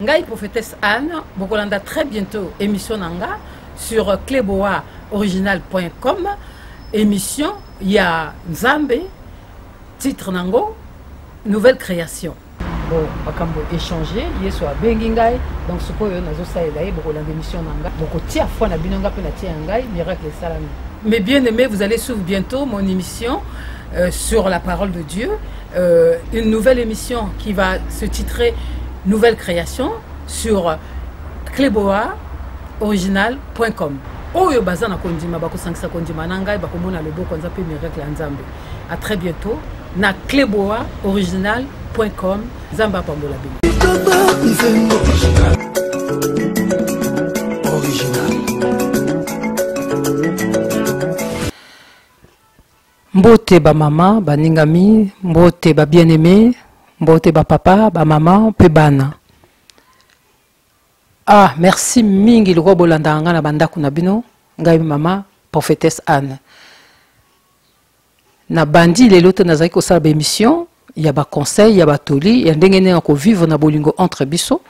ngai prophétesse anne bokolanda très bientôt émission na nga sur cleboa original.com émission ya nzambe titre nango nouvelle création bon makambo échange yesu abengi ngai donc sikoyo nazosalela ye bokolanda émission na ngai bokotia foi na bino ngai mpe natia ya ngai miracle esalami mais bien aimé vous allez suivre bientôt mon émission euh, sur la parole de dieu euh, une nouvelle émission qui va se titrer nouvelle création sur cleboa original.com oyo baza na kondima bakosangisa kondima na ngai bakomona loboko nza mpe miracle ya nzambe à très bientôt na cleboa original com nzambe apambola bino mbote bamama baningami mbote babieneme mbote bapapa bamama mpe bana ah merci mingi lokola bolandaka ngai na bandako na bino ngai mama prophétesse anne Na bandi lelo te nazali kosala ba emission ya ba conseil ya batoli ya ndenge ndenge ko vivre na bolingo entre biso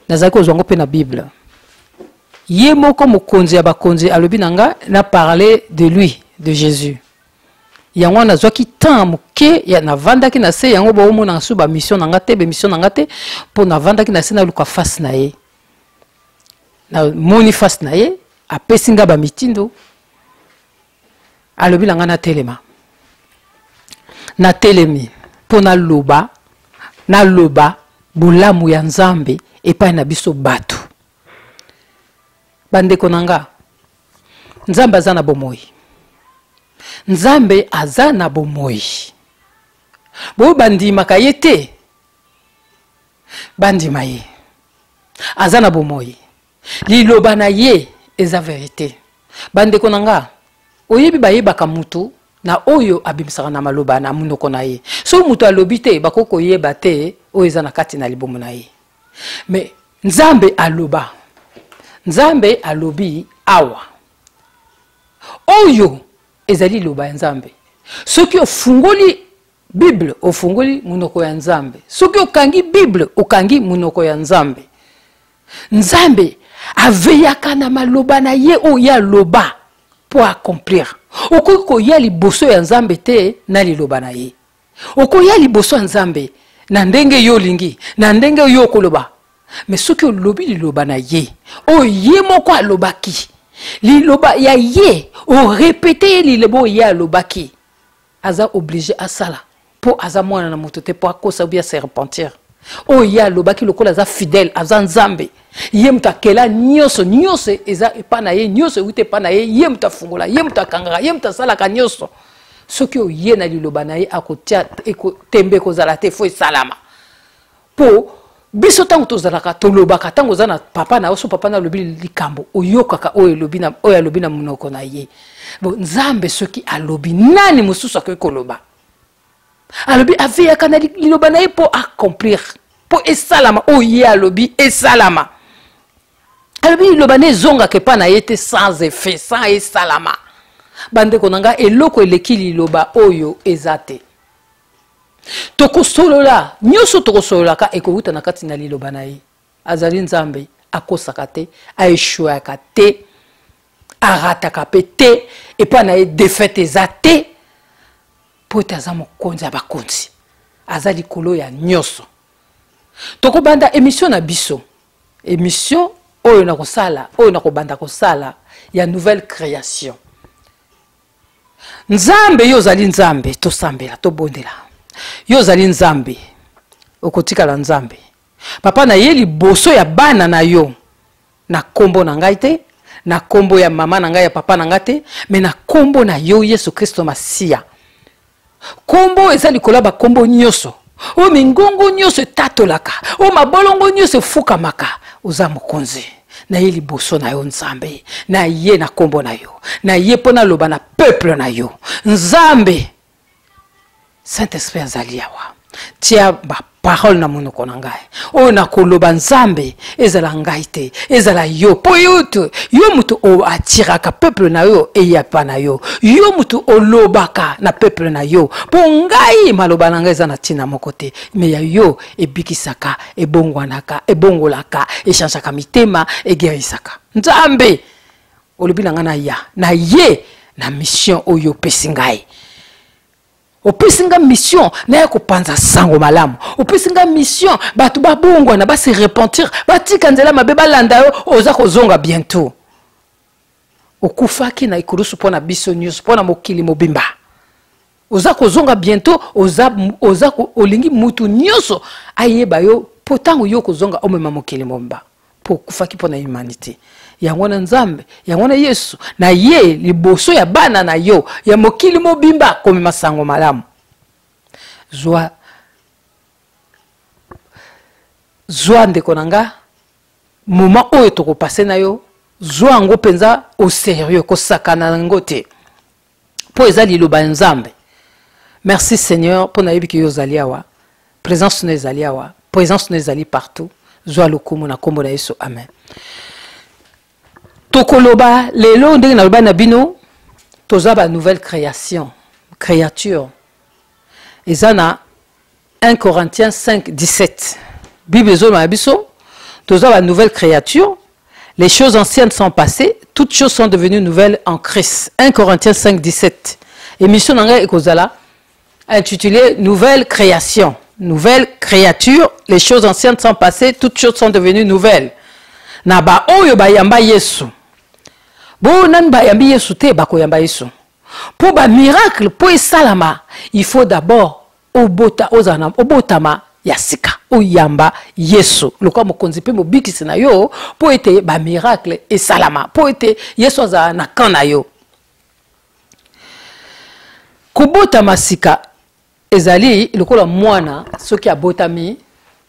nazali kozwa ngo mpe na bible ye moko mokonzi ya bakonzi alobi na nga na parler de lui de jésus yango wana nazwaki temps moke ya navandaki na se yango baomonaka so bamission na nga te bemission na nga te mpo navandaki na se naluka face na ye namoni face na ye apesi nga bamitindo alobi na ngai natelema natelemi mpo naloba naloba bolamu ya nzambe epai na biso bato bandeko na nga nzambe aza na bomoi nzambe aza na bomoi boyo bandimaka ye te bandima ye aza na bomoi liloba na ye eza verite bandeko na nga oyebi bayebaka mutu na oyo abimisaka na maloba na monoko na ye soki moto alobi te bakoki koyeba te oyo eza na kati na libumu na ye me nzambe aloba nzambe alobi awa oyo ezali liloba ya nzambe soki ofungoli bible ofungoli monoko ya nzambe soki okangi bible okangi monoko ya nzambe nzambe aveyaka na maloba na ye oyo ye aloba mpo accomplir okoki koya liboso ya nzambe te na liloba na ye okoya liboso ya nzambe na ndenge yo olingi na ndenge yo okoloba me soki olobi liloba na ye oyo ye moko alobaki liloba ya ye orepete ye liloba oyo ye alobaki aza oblige asala mpo aza mwana na moto te mpo akosa obi ase repentir oyo oh, ye alobaki lokola aza fidèle aza nzambe ye moto akela nyonso nyonso eza epa na ye nyonso euti epa na ye ye moto afungola ye moto akangaka ye moto asalaka nyonso soki oye na liloba na ye akotia tembe ekozala te fo esalama po biso ntango tozalaka tolobaka ntango oza na papa na yo so papa na alobi likambo oyokaka oyo elobi na oyo alobi na monoko na ye bo nzambe soki alobi nani mosusu akoki koloba alobi aveyaka na liloba na ye mpo accomplir mpo esalama oyo ye alobi esalama alobi liloba na ezongaka epa na ye te sans effet sans esalama bandeko na ngai eloko eleki liloba oyo eza te tokosolola nyonso tokosololaka ekowuta na kati na liloba na ye azali nzambe akosaka te aeshuaka te arataka mpe te epai na ye defete eza te mpo ete aza mokonzi ya bakonzi aza likolo ya nyonso tokobanda emission na biso emission oyo nakosala oyo nakobanda kosala ya nouvelle création nzambe yo ozali nzambe tosambela tobondela yo ozali nzambe okotikala nzambe papa na ye liboso ya bana na yo na nkombo na ngai te na nkombo ya mama na ngai ya papa na ngai te me na nkombo na yo yesu kristo masiya nkombo eza likolo ya bankombo nyonso oyo mingongo nyonso etatolaka oyo mabolongo nyonso efukamaka oza mokonzi na ye liboso na yo nzambe na ye na nkombo na yo na ye mpo naloba na peuple na yo nzambe saint esprit azali awa tia ba parole na monoko na ngai oyo nakoloba nzambe ezala ngai te ezala yo mpo yo te yo moto atiraka peuple na yo eyapa na yo yo moto olobaka na peuple na yo mpo ngai maloba na ngai eza na ntina moko te me ya yo ebikisaka ebongwanaka ebongolaka echangeaka mitema egerisaka nzambe olobi na ngai na ya na ye na mission oyo opesi ngai opesi nga mission naya kopanza sango malamu opesi nga mission bato babongwana base repentir batika nzela mabe balanda yo oza kozonga bientot okufaki na ekulusu mpo na biso nyonso mpo na mokili mobimba oza kozonga bientot oza, oza olingi mutu nyonso ayeba yo mpo ntango yo kozonga omema mokili mobimba mpo okufaki mpo na humanité yango wana nzambe yango wana yesu na ye liboso ya bana na yo ya mokili mobimba akomema sango malamu zwa zwa ndeko na nga moma oyo tokopase na yo zwa yango mpenza au serieux kosakana na yango te mpo eza liloba ya nzambe merci seigneur mpo nayebi ke yo ozali awa présence no ezali awa présence no ezali partout zwa lokumu na nkombo na yesu amen tokoloba lelo ndenge naloba na bino toza ba nouvelle création créature eza na 1 Corinthiens 5, 17. Bible ezoloba na biso toza ba nouvelle créature les choses anciennes sont passées toutes choses sont devenues nouvelles en christ 1 corinthiens 5 17 émission na ngai ekozala intitulée nouvelle création nouvelle créature les choses anciennes sont passées toutes choses sont devenues nouvelles na baoyo bayamba yesu baoyo nani bayambi yesu te bakoyamba yesu mpo bamiracle mpo esalama il faut d'abord obota ozala na obotama ya sika oyamba yesu lokola mokonzi mpe mobikisi na yo mpo ete bamiracle esalama mpo ete yesu azala na kan na yo kobotama sika ezali lokola mwana soki abotami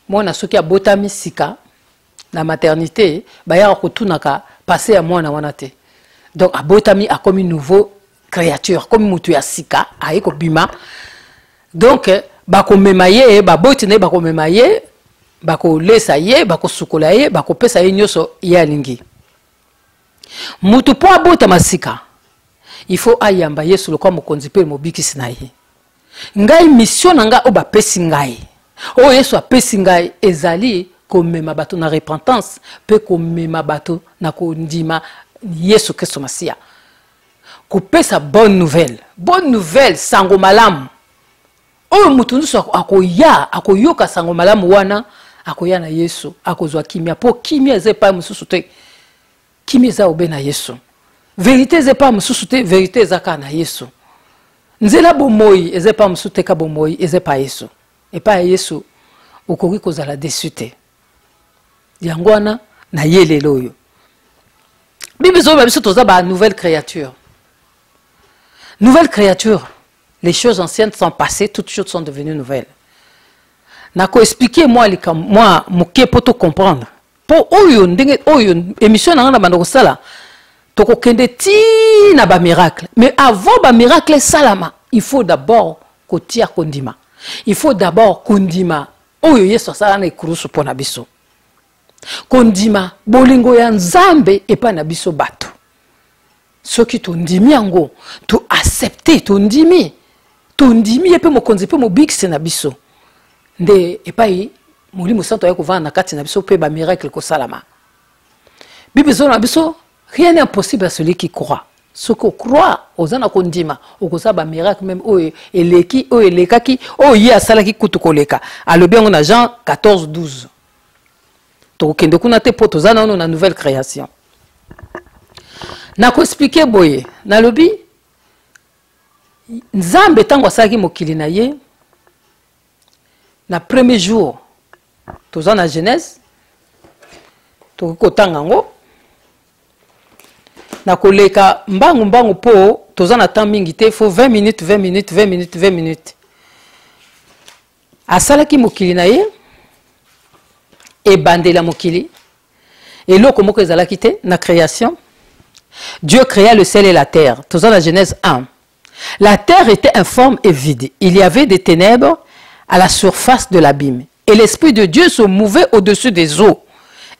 mwana soki abotami sika na maternité bayaka kotunaka passe ya mwana wana te donc abotami akomi nouveau créature akomi motu ya sika aye kobima donc bakomema ye baboti na ye bakomema ye bakolesa ye bakosukola ye bakopesa ye nyonso ye alingi motu mpo abotama sika il faut ayamba yesu lokola mokonzi mpe mobikisi na ye ngai misio na ngai oyo bapesi ngai oyo yesu apesi ngai ezali komema bato na repentance mpe komema bato na kondima yesu kristo masiya kopesa bonne nouvelle bonne nouvelle sango malamu oyo moto nyonso akoya akoyoka sango malamu wana akoya na yesu akozwa kimia mpo kimia eza epai mosusu te kimia eza obe na yesu verite eza epai mosusu te verite eza kaka na yesu nzela bomoi eza epai mosusu te ka bomoi eza epai yesu epai ya yesu okoki kozala desu te yango wana na ye lelo oyo bible ezoloba biso toza ba nouvelle créature nouvelle créature les choses anciennes sont passées toutes choses sont devenues nouvelles nakoexplike mwa likambo mwa moke mpo tocomprendre mpo oyo ndenge oyo émission na ngai na banda kosala tokokende tii na bamiracle mais avant bamiracle esalama il faut d'abord kotia kondima il faut d'abord kondima oyo yesu asala na ekurusu mpo na biso kondima bolingo ya nzambe epai na biso bato soki tondimi yango to accepte tondimi tondimi ye mpe mokonzi mpe mobikisi na biso nde epai molimo santo ayaki kovanda na kati na biso mpe bamiracle kosalama bible ezoloba na biso rien n'est impossible à celui qui croit soki ocroi oza na kondima okozala bamiracle meme oyo eleki oyo elekaki oyo ye asalaki kutu koleka alobi yango na jean 14 12 tokokende kuna te mpo toza nano na nouvelle création nakoexplike boye nalobi nzambe ntango asalaki mokili na ye na premier jour toza na genèse tokoki kotanga yango na koleka mbangu mbangu mpo toza na temps mingi te fo 20 minutes 20 minutes 20 minutes 20 minutes asalaki mokili na ye ebandeli ya mokili eloko moko ezalaki te na création dieu créa le ciel et la terre toza na genèse 1 la terre était informe et vide il y avait des ténèbres à la surface de l'abîme et l'esprit de dieu se mouvait au-dessus des eaux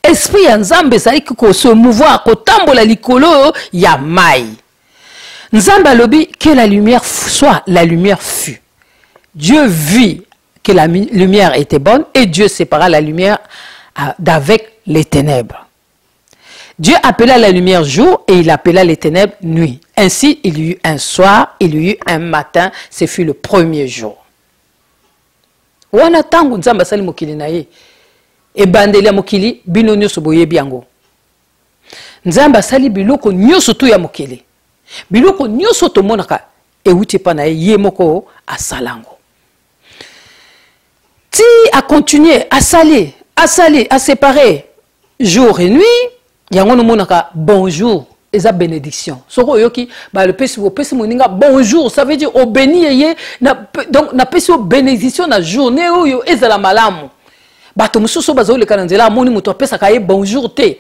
esprit ya nzambe ezalaki se mouvoir kotambola likolo ya mai Nzambe alobi que la lumière soit, la lumière fut. Dieu vit que la lumière était bonne et Dieu sépara la lumière euh, d'avec les ténèbres. Dieu appela la lumière jour et il appela les ténèbres nuit. Ainsi, il y eut un soir, il y eut un matin, ce fut le premier jour. wana ntango nzambe asali mokili na ye ebandeli ya mokili bino nyonso boyebi yango nzambe asali biloko nyonso tu ya mokili biloko nyonso tomonaka euti epa na ye ye moko asala yango ti akontinue asali asali asepare jour et nuit yango nomonaka bonjour eza bénédiction soki oyoki balopesi opesi moninga bonjour ça veut dire obeni ye ye donc napesi yo bénédiction na journée oyo ezala malamu bato mosusu oyo bazoleka na nzela amoni moto apesaka ye bonjour te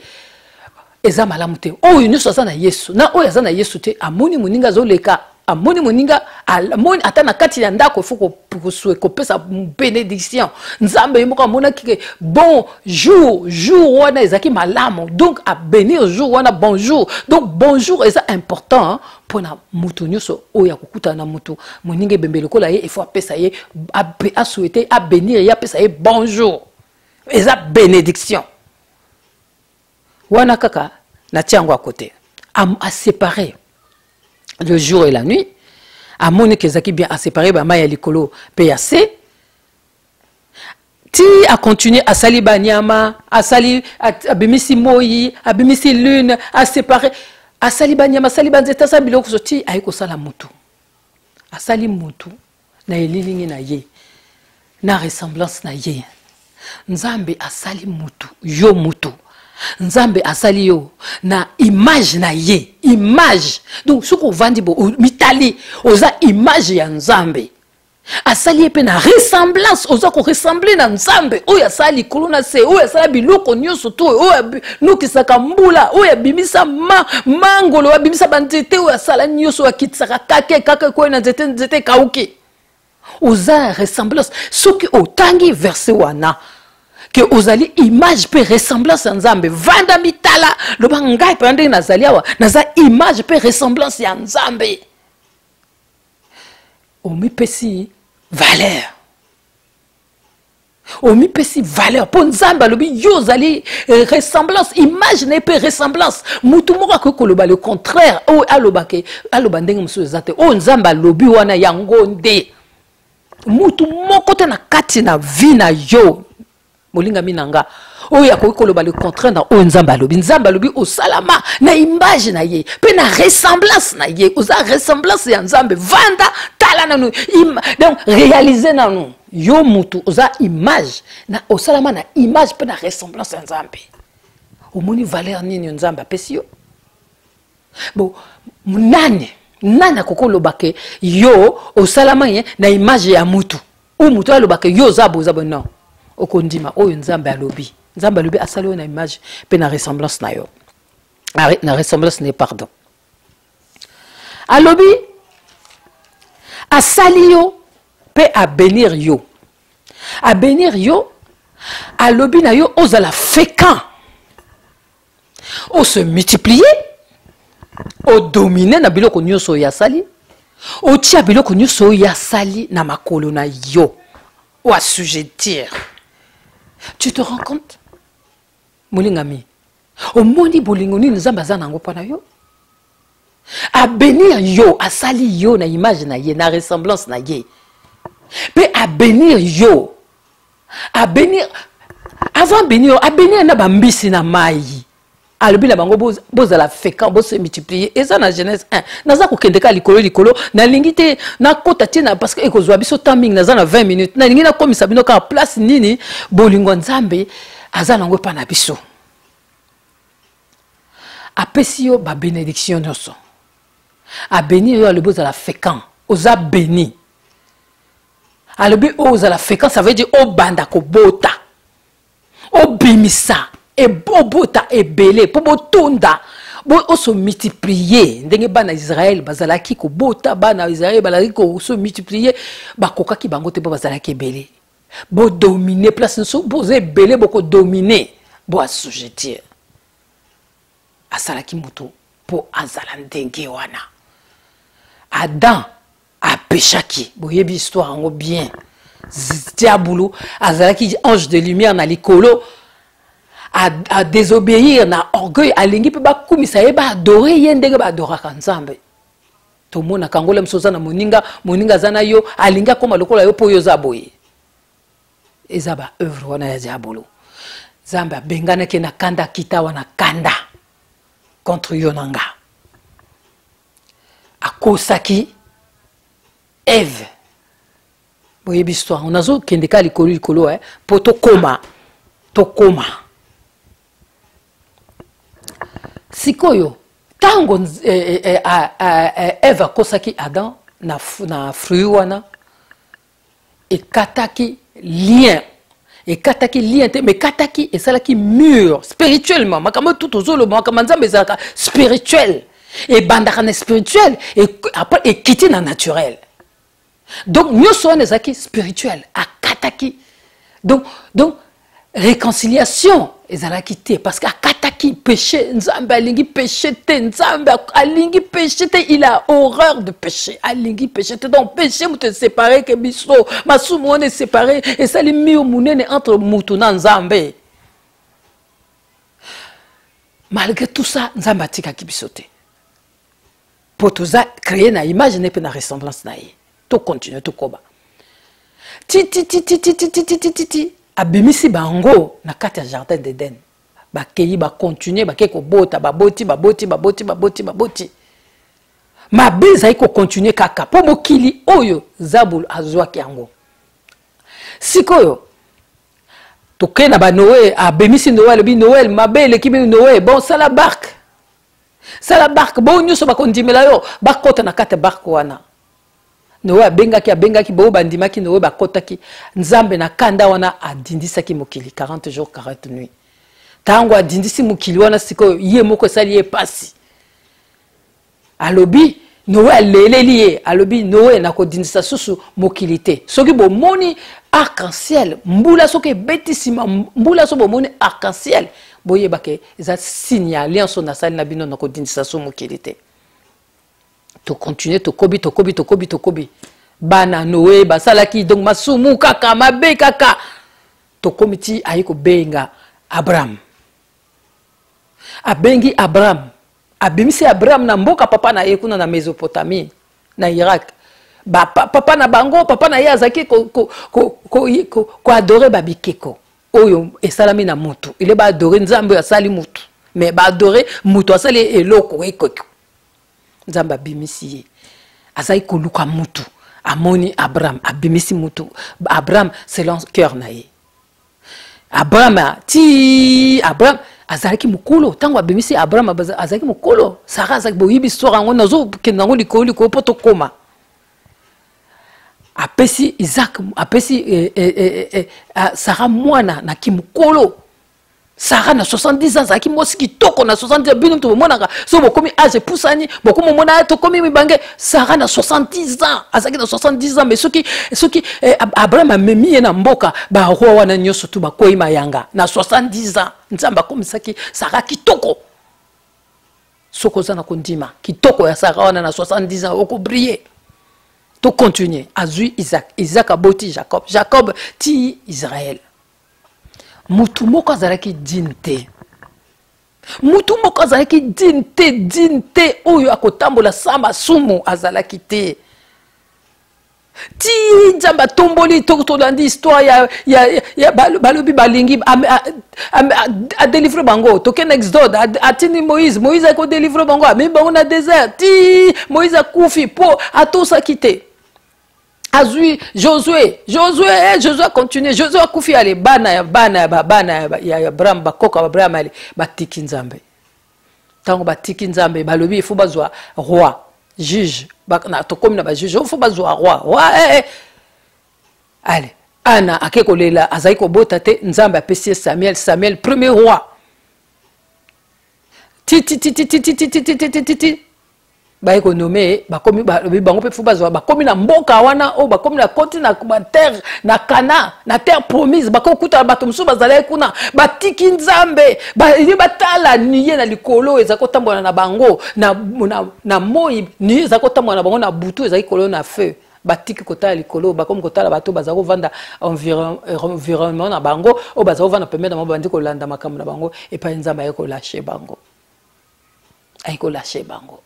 eza malamu te oyo nyonso aza na yesu na oyo aza na yesu te amoni moninga azoleka amoni moninga amoni ata na kati ya ndako fo kosue kopesa benediction nzambe ye moko amonaki ke bon jour jour wana ezalaki malamu donc abenir jour wana bonjour donc bonjour eza important mpo na moto nyonso oyo akokutana na moto moninga ebembe lokola ye efo apesa ye asouete abenir ye apesa ye bonjour eza bénédiction wana kaka natia yango akote asepare le jour et la nuit amoni ke ezalaki bien asepare bama ya likolo mpe ya se ti acontinue asali banyama asali abimisi moi abimisi lune asepare asali banyama asali banzete asali biloko so ti aye kosala motu asali motu na elilingi na ye na ressemblance na ye nzambe asali motu yo motu nzambe asali yo na image na ye image donc soki ovandi bo mitali oza image ya nzambe asali ye mpe na ressemblance oza koressemble na nzambe oyo asala likolo na se oyo asala biloko nyonso to oyo anokisaka mbula oyo abimisa ma, mangolo oyo abimisa banzete oyo asala nyonso oyo akitisaka kake kake ekwei na nzete nzete ekauki oza na ressemblance soki otangi verse wana ke ozali image mpe ressemblance ya nzambe vanda mitala loba ngai mpenza ndenge nazali awa naza image mpe ressemblance ya nzambe omipesi valeur omipesi valeur mpo nzambe alobi yo ozali eh, ressemblance image na ye mpe ressemblance motu moko akoki koloba le contraire oyo alobake aloba ndenge mosusu eza te oyo nzambe alobi wana yango nde motu moko te na kati na vie na yo molingami na nga oyo akoki koloba le contraire na oyo nzambe alobi nzambe alobi osalama na image na ye mpe na ressemblance na ye oza ressemblance ya nzambe vanda tala nanu donc réalise nanu yo mutu oza image na osalama na image mpe na ressemblance ya nzambe omoni valeur nini nzambe apesi yo bon nani nani akoki oloba ke yo osalama ye na image ya mutu oyo moto alobaka yo oza boza bo non okondima oyo nzambe alobi nzambe alobi asali oyo na image mpe na ressemblance na yo na ressemblance na ye pardon alobi asali yo mpe abenir yo abenir yo alobi na yo ozala fréquent o se multiplier o domine na biloko nyonso oyo asali otia biloko nyonso oyo asali na makolo na yo o assujettir tu te rends compte molingami omoni bolingo nini nzambe aza na yango mpo na yo abenir yo asali yo na image na ye na ressemblance na ye mpe abenir yo abenir avant abenir yo abenir na bambisi na mai alobi na bango bozala fécant bose multiplier eza na genèse 1 naza kokende kaka likolo likolo nalingi te nakota te na parce que ekozwa biso temps mingi naza na 20 minutes nalingi nakomisa bino kaka place nini bolingo nzambe aza nango epa na biso apesi yo ba benediction nyonso abeni yo alobi ozala fécant oza beni alobi oyo oh, ozala fécant ça veut dire obanda kobota obimisa obota ebele mpo botonda oso multiplier ndenge bana israel bazalaki kobota bana israel bazalaki koso multiplier bakokaki bango te mpo bazalaki ebele bodomine place nyonso boza ebele bokodomine bo assujettir asalaki moto mpo azala ndenge wana adam apeshaki boyebi histoire yango bien diabulu azalaki ange de lumière na likolo adesobéir na orgueil alingi mpe bakumisa ye baadore ye ndenge baadoraka nzambe tomonaka yango lemso oza na moninga moninga aza na yo alingi akóma lokola yo mpo yo oza boye eza baoeuvre wana ya diabolo nzambe abenganaki na kanda akita wana kanda contre yo na nga akosaki eve boyebi histoire nazokende ka likolo likolo eh, mpo tokoma tokoma sikoyo ntango eh, eh, eh, eve akosaki adam na, na fruit wana ekataki lien ekataki lien te mais ekataki esalaki mur spirituellement makambo tout ozoloba makambo ya nzambe ezalaka spirituel ebandaka na spirituel après ekiti na naturel donc nyonso wana ezalaki spirituel akataki donc, donc réconciliation ezalaki te parce que akataki péché nzambe alingi péché te nzambe alingi péché te il a horreur de péché alingi péché te donc péché moto eséparé ke biso masumu wana eséparé esali mio monene entre moto na nzambe malgré tout ça nzambe atikaki biso te mpo toza créé na image ne mpe na ressemblance na ye tocontinue tokoba tititititititititi abimisi bango na kati ya jardin d'eden bakei bakontinue bakei kobota baboti baboti baboti baboti baboti mabe ezali kokontinue kaka mpo mokili oyo zabulu azwaki yango sikoyo tokei na banoel abimisi noel alobi noel mabe eleki bino noel bonsala barke sala barke baoyo nyonso bakondimela yo bakota na kati ya barke wana noe abengaki abengaki baoyo bandimaki noe bakotaki nzambe na kanda wana adindisaki mokili 40 jour 40 nuit ntango adindisi mokili wana sikoyo ye moko esali ye mpasi alobi noe aleleli ye alobi noe nakodindisa susu mokili te soki bomoni arc-en-ciel mbula soki ebeti nsima mbula soki bomoni arc-en-ciel boyeba ke eza signe ya alliance oyo nasali na bino nakodindisa susu mokili te tokontinue tokobi tokobi tokobi tokobi bana noe basalaki donc masumu kaka mabe kaka tokomi ti aye kobenga abraham abengi abraham abimisi abraham na mboka papa na ye kuna na mesopotamie na irak ba, pa, papa na bango papa na ye azalaki koadore babikeko oyo esalami na motu ile baadore nzambe oyo asali motu me baadore motu asali eloko ekoko nzambe abimisi ye azalaki koluka motu amoni abraham abimisi motu abraham selon cœur na ye abrahama ti abraham azalaki mokolo ntango abimisi abraham azalaki mokolo sara azalaki boyebi histoire yango nazokende yango likolo likolo mpo tokoma apesi isaac apesi eh, eh, eh, eh, eh ah, sara mwana na kimokolo sara na 70 ans azalaki mwasi kitoko na 70 bino moto bomonaka soki bokomi age epusani bokomi omona tokomi mibange sara na 70 ans azalaki na 70 ans mais soki soki eh, abraham amemi ye na mboka baroi wana nyonso tu bakwei mayanga na 70 ans nzambe akomisaki sara kitoko soki oza na kondima kitoko ya sara wana na 70 ans okobrille tocontinue azwi isak isak aboti jacob jacob ti israel mutu moko azalaki digne te mutu moko azalaki digne te digne te oyo akotambola sa masumu azalaki te ti nzambe atomboli tolandi histoire ya, ya, ya balobi balingi adelivre bango tokende exode atindi moïse moïse akodelivre bango amemi bango na désert ti moïse akufi mpo atosaki te azwi josue josue eh, josue acontinue josue akufi ale bana ya bana ya babana ya abraham bakoko ya abraham ale batiki nzambe ntango batiki nzambe balobi ifo bazwa roi juge tokomi na bajuge ifo bazwa roi roi eh, eh. ale ana ake kolela azali kobota te nzambe apesi ye samuel samuel premier roi titititititititititi baye konome ye bakomi bango mpe fo bazwa bakomi na mboka wana oyo bakomi na koti na terre na kana na terre promise bakoki kutana bato mosusu bazalaki kuna batiki nzambe baye batala niye na likolo ezali kotambola na bango na, na, na moi niye ezali kotambola na bango na butu ezali kolo na feu batiki kotala likolo bakomi kotala bato bazali kovanda environnement na bango oyo bazali kovanda pembeni na bango bandi kolanda makambo na bango epai nzambe aye kolashe bango aye kolashe bango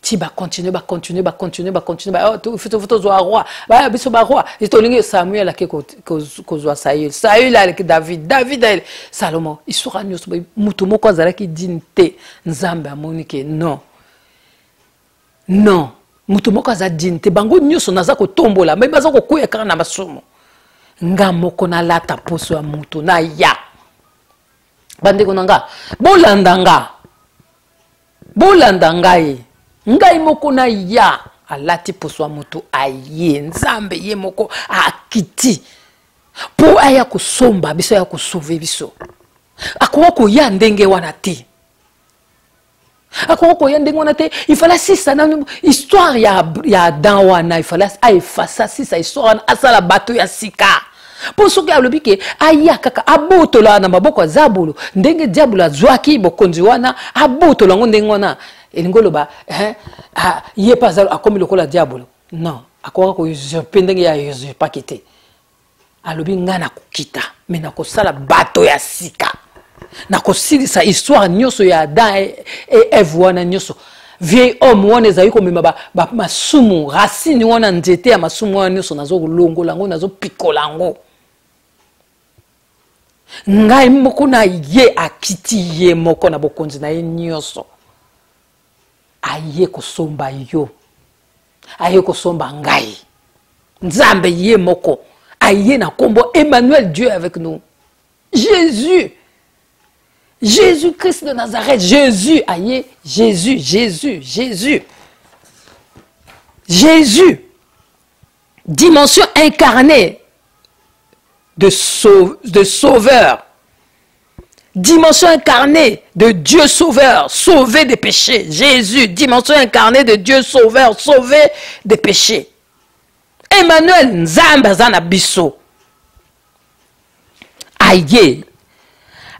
ti bacontinue bacontinue bacontinue bacontinue tozwa roi baya biso baroi tolingi samuel ake kozwa saül saül aleki david david aye salomo isoka nyonso moto moko azalaki dine te nzambe amoni ke non non moto moko aza dine te bango nyonso naza kotombola me baza kokwea kaka na masumu nga moko nalata mposo ya moto naya bandeko na nga bolanda nga bolanda ngai ngai moko na ya alati poso ya moto aye nzambe ye moko akiti mpo aya kosomba biso aya kosove biso akoka koya ndenge wana te akoki koya ndenge wana te ifala sisa na histoire ya, ya adam wana ifala aefasa sisa histoire wana asala bato ya sika mpo soki alobi ke aya kaka abotola na maboko ya zabulu ndenge diabulu azwaki bokonzi wana abotola yango ndenge wana elingi oloba eh, ah, ye mpe akomi lokola diabulu non akokaka ko usurpe ndenge ya usurpaki te alobi ngai nakokita me nakosala bato ya sika nakosilisa histoire nyonso ya adam e, e eve wana nyonso vieil homme wana ezali komema masumu ba, ba racine wana nzete ya masumu wana nyonso nazolongola yango nazopikola yango ngai moko na ye akiti ye moko na bokonzi na ye nyonso aye kosomba yo aye kosomba ngai nzambe ye moko aye na nkombo emmanuel dieu avec nous jésus jésus christ de nazareth jésus aye jésus jésus jésus jésus dimension incarnée de, sau de sauveur Dimension incarnée de Dieu sauveur, sauvé des péchés. Jésus, dimension incarnée de Dieu sauveur, sauvé des péchés. Emmanuel Nzamba Zana Bisso. Aïe.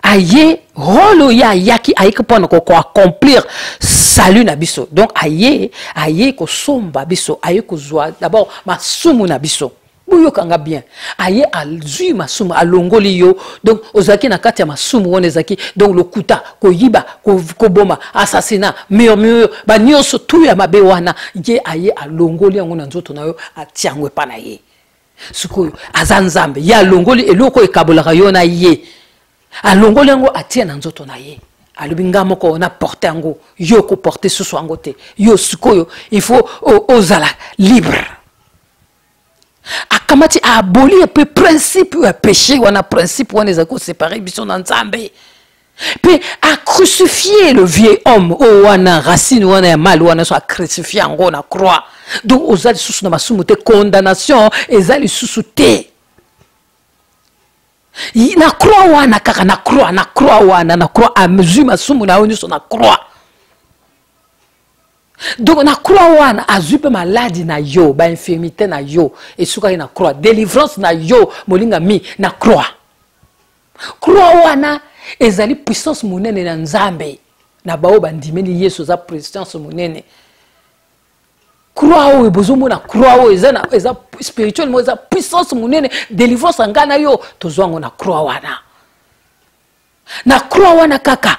Aïe, rôle ya yaki aïe que pour accomplir salut na biso. Donc aïe, aïe ko somba bisso, aïe ko d'abord ma sumu na bisso. boyoka nga bien aye azwi masumu alongoli yo donc ozalaki na kati ya masumu wana ezalaki donc lokuta koyiba koboma assassina murmure banyonso tu ya mabe wana ye aye alongoli yango na nzoto na yo atia yango epa na ye sikoyo aza nzambe ye alongoli eloko ekabolaka yo na ye alongoli yango atia na nzoto na ye alobi nga moko na porte yango yo koporte susu yango te yo sikoyo il faut ozala libre akamati aboli ye mpe principe ya péché wana principe wana ezali kosepare biso na nzambe mpe acrucifie le vieux homme oyo wana racine wana ya mali wana so acrucifie yango na croix donc oza lisusu na masumu te condamnation eza lisusu te na croix wana kaka na croix na croix wana na croix azwi masumu na yo nyonso na croix donc na croix wana azwi mpe maladi na yo bainfirmité na yo esukaki na croix délivrance na yo molingami na croix croix wana ezali puissance monene na nzambe na baoyo bandimeli yesu eza puissance monene croix oyo bozomona croix oyo eza, eza spirituel mo eza puissance monene délivrance ya ngai na yo tozwa yango na croix wana na croix wana kaka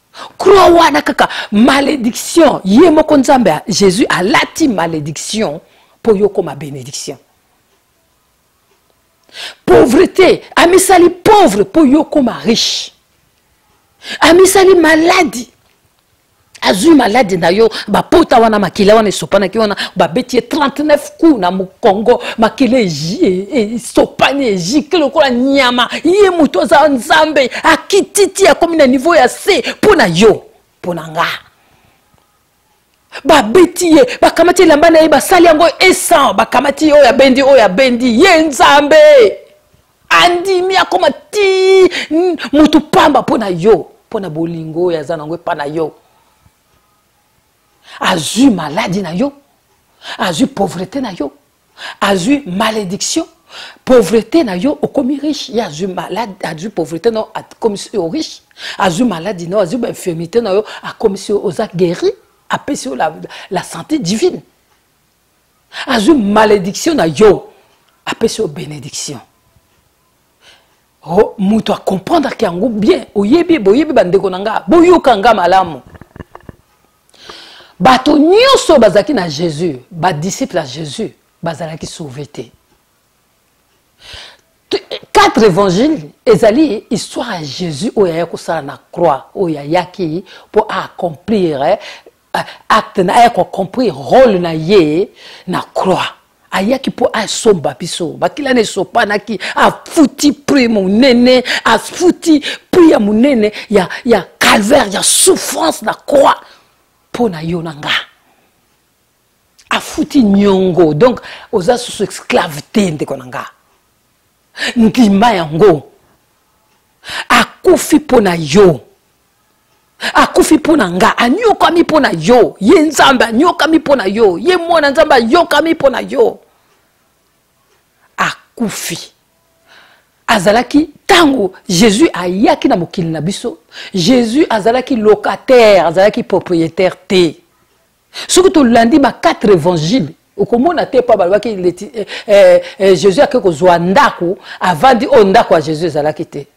croix wana kaka malédiction ye moko nzambe jésus alati malédiction mpo yo okoma bénédiction pauvreté amisali pauvre mpo yo okoma riche amisali maladi azwi maladi na yo bapota wana makila wana esopanaki wana babeti ye 39 kuna mokongo makila eji esopani ejike lokola nyama ye moto aza nzambe akititi akomi na nivo ya se mpo na yo mpo na nga babeti ye bakamati elamba na ye basali yango esan bakamati ye oyo abendi oyo abendi ye nzambe andimi akoma ti motu pamba mpo na yo mpo na bolingo oyo aza nango epa na yo azwi maladi na yo azwi pauvrete na yo azwi malédiction pauvrete na yo okomi riche ye azwi malade azwi pauvrete na yo akomisi yo riche azwi maladi na yo azwi bainfirmité na yo akomisi yo oza guéri apesi yo la, la santé divine azwi malédiction na yo apesi yo bénédiction oh, moto acomprendreke yango bien oyebi boyebi bandeko na nga boyoka nga malamu bato nyonso bazalaki na jésus badisciple ya jésus bazalaki sauve te quatre évangile ezali histoire ya jésus oyo aya kosala na croix oyo ayaki mpo aaccomplir eh, euh, acte na aya kocompris role na ye na croix ayaki mpo asomba biso bakila na esopanaki afuti prix monene afuti prix ya monene ya, ya calvaire ya souffrance na croix mpo na yo na nga afuti nyongo donc oza susu esclave te ndeko na nga ndima yango akufi mpo na yo akufi mpo na nga anyokwami mpo na yo ye nzambe anyokwami mpo na yo ye mwana nzambe ayokwami mpo na yo akufi azalaki ntango jésus ayaki na mokili na biso jésus azalaki locataire azalaki propriétaire te soki tolandi ba quatre évangile okomona te mpo balobaki eh, eh, eh, jésus ake kozwa ndako avandi oyo oh, ndako ya jésus ezalaki te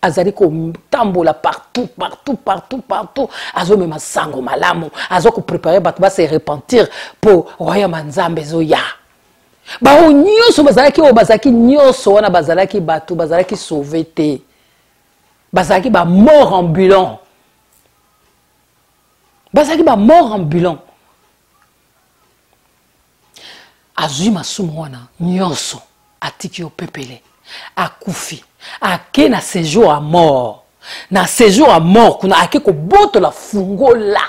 azali kotambola partout partout partout partout azomema sango malamu aza koprepare bato base repentir mpo royaume ya nzambe ezoya baoyo nyonso bazalaki oyo bazalaki nyonso wana bazalaki bato bazalaki sauve te bazalaki bamort ambulant bazalaki bamort ambulant azwi masumu wana nyonso atiki yo pepele akufi ake na séjour ya mort na séjour ya mort kuna ake kobotola fungola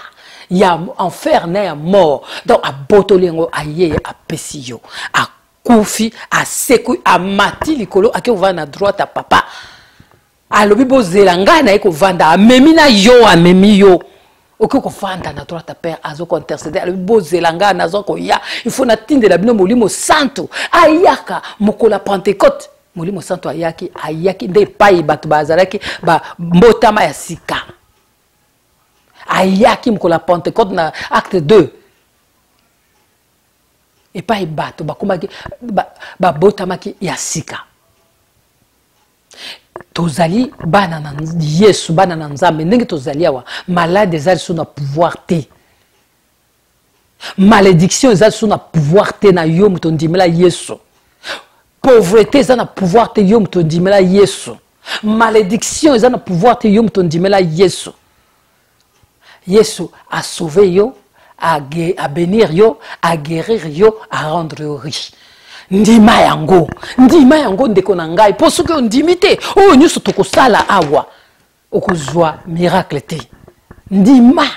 ya enfer na ya mort donc abotoli yango aye apesi yo akufi asekwi amati likolo ake kovanda na droite ya papa alobi bozela ngai naye kovanda amemi na yo amemi yo okoki kofanda na droite père azo kointercede alobi bozela ngai naza koya ifo natindela bino molimo santu ayaka mokolo ya pentecote molimo santu ayaki ayaki nde epai bato bazalaki mbotama ya sika ayaki mokolo ya pentecote na acte 2 epai bato bakomaki babotamaki ya sika tozali bana na yesu bana na nzambe ndenge tozali awa malade eza lisusu na pouvoir te malédiction eza lisusu na pouvoir te na yo moto ondimela yesu pauvreté eza na pouvoir te yo moto ondimela yesu malédiction eza na pouvoir te yo moto ondimela yesu yesu a sauver yo a benir yo a guérir yo a rendre yo riche ndima yango ndima yango ndeko na ngai mpo soki ondimi te oyo nyonso tokosala awa okozwa miracle te ndima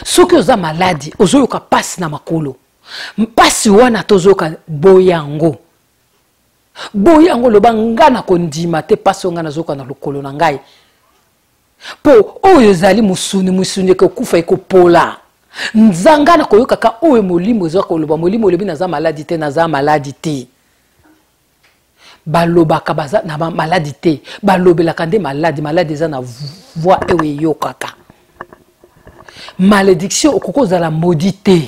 soki oza maladi ozoyoka mpasi na makolo mpasi wana tozoyoka boya yango boya yango loba ngai na kondima te mpasi oyo ngai nazoyoka na lokolo na ngai mpo oyo ezali mosuni mosuni ekokufa ekopola nzanga na koyokaka oyo molimo eza koloba molimo olobi naza maladi te naza maladi te balobaka baza na maladi te balobelaka nde maladi maladi eza na voi oyo eyokaka malédiction okoki ozala modi te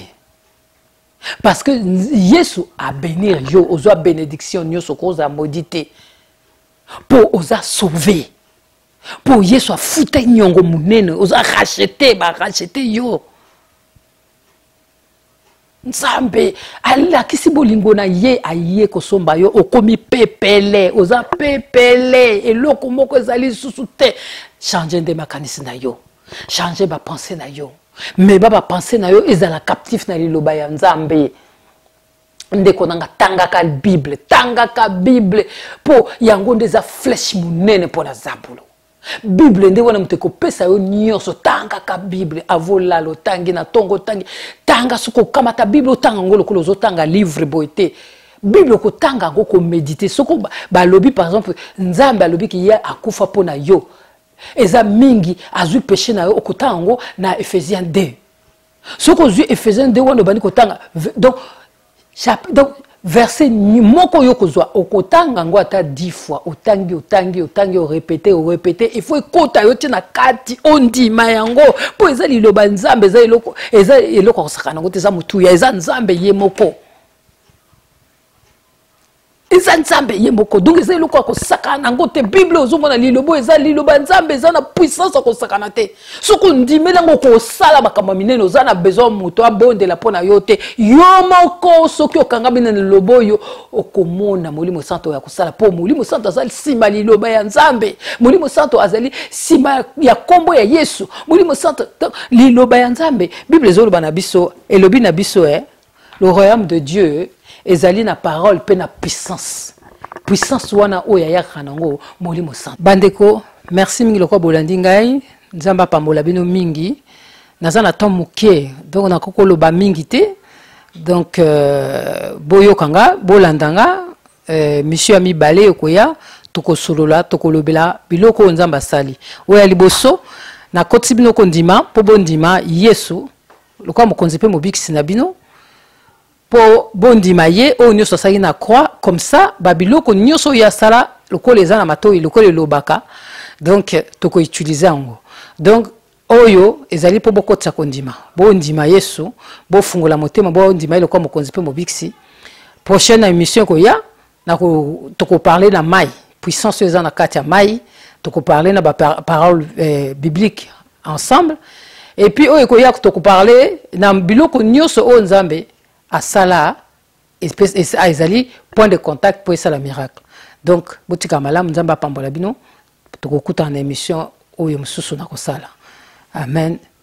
parce que yesu abenir yo ozwa bénédiction nyonso okoki ozala modi te mpo oza sauve mpo yesu afuta nyongo monene oza rachete barachete yo nzambe alakisi bolingo na ye aye kosomba yo okomi pepele oza pepele eloko moko ezali lisusu te change nde makanisi na yo change bapense na yo meba bapense na yo ezala captif na liloba ya nzambe ndeko na nga tangaka bible tangaka bible mpo yango nde eza flèche monene mpo na zabulu bible nde wana moto ekopesa yo nyonso tangaka bible avolala otangi na ntongo otangi tanga soki okamata bible otanga yango lokola ozotanga livre boye te bible okotanga yango komedite soko balobi par exemple nzambe alobi ke ye akufa mpo na yo eza mingi azwi peshe na yo okotanga yango na ephésiens 2 soki ozwi efesiens 2 wana obandi kotanga donc, donc verse moko oyo okozwa okotanga yango ata 10 fois otangi otangi otangi orepete orepete il faut ekota yo ti na kati ondima yango mpo eza liloba nzambe eza eloko eza eloko akosakana yango te eza motuya eza nzambe ye moko eza nzambe ye moko donc eza eloko ya kosakana na yango te bible ozomona lilobo eza liloba nzambe eza na puissance ya kosakana te soki ondimeli yango kosala makambo ya minene oza na besoin moto abondela mpo na yo te yo moko soki okangami na liloba oyo okomona molimo santo ya kosala mpo molimo santo azali nsima liloba ya nzambe molimo santo azali nsima ya nkombo ya yesu molimo santo liloba ya nzambe bible ezoloba na biso elobi na biso e eh? le royaume de dieu ezali na parole mpe na puissance puissance wana oyo ayakaka nango molimo santu bandeko merci mingi lokola bolandi ngai nzambe apambola bino mingi naza na temps moke donc nakoki koloba mingi te donc euh, boyoka nga bolanda nga euh, misio ya mibale ekoya tokosolola tokolobela biloko oyo nzambe asali oyo ya liboso nakotisi bino kondima mpo bondima yesu lokola mokonzi mpe mobikisi na bino mpo bondima ye oyo nyonso asalaki na croix comme ça babiloko nyonso oyo asala lokola eza na matoi lokola elobaka donc tokoutilize yango donc oyo ezali mpo bokotisa kondima bondima yesu bofungola motema bondima ye lokola mokonzi mpe mobikisi prochaine émission ekoya nako toko parler na mai puissance oyo eza na kati ya mai toko parler na ba parole eh, biblique ensemble et puis oyo ekoya toko parler na biloko nyonso oyo nzambe asala ah, ezali point de contact mpo esala miracle donc botika malamu nzambe apambola bino tokokutana na émission oyo mosusu nakosala amen